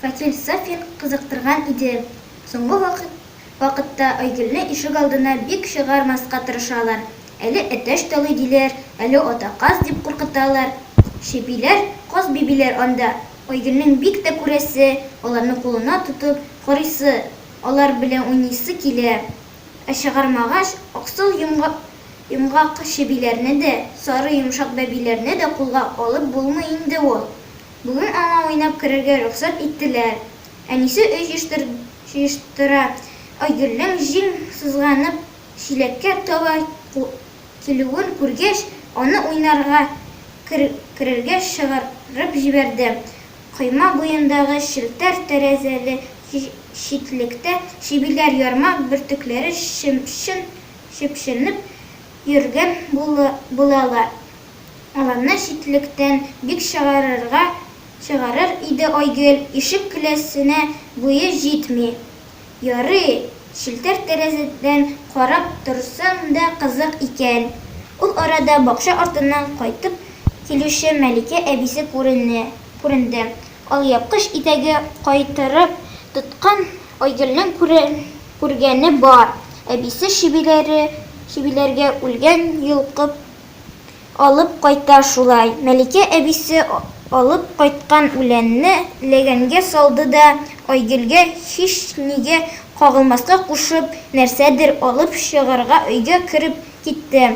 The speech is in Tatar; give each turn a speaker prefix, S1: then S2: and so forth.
S1: Фатил Сафин кызыктырган иде. Соңгы вакыт вакытта Айгөлне ишек алдына бик чыгармаска тырышалар. Әле әтәч талый диләр, әле ата каз дип куркыталар. Чебиләр, каз бибиләр анда. Айгөлнең бик тә күрәсе, аларны кулына тотып карыйсы. Алар белән уйныйсы килә. Ә чыгармагач, аксыл йомгак чебиләрне дә, сары йомшак бәбиләрне дә кулга алып булмый инде ул. Бүген аңа уйнап керергә рөхсәт иттеләр. Әнисе өй җыештыра, Айгөлнең җиң сызганып, чиләккә таба килүен күргәч, аны уйнарга керергә чыгарып җибәрде. Койма буендагы челтәр тәрәзәле читлектә чебиләр ярмак бөртекләре чепченеп йөргән булалар. Аларны читлектән бик чыгарыр иде Айгөл, ишек келәсенә буе җитми. Ярый, челтәр тәрәзәдән карап торсаң да кызык икән. Ул арада бакча артыннан кайтып килүче Мәликә әбисе күренә, күренде. Алъяпкыч итәге кайтырып тоткан Айгөлнең күрә, күргәне бар, әбисе чебиләре, чебиләргә үлгән йолкып, Алып кайта шулай. Мәликә әбисе алып кайткан үләнне ләгәнгә салды да, Айгөлгә һичнигә кагылмаска кушып, нәрсәдер алып чыгарга өйгә кереп китте.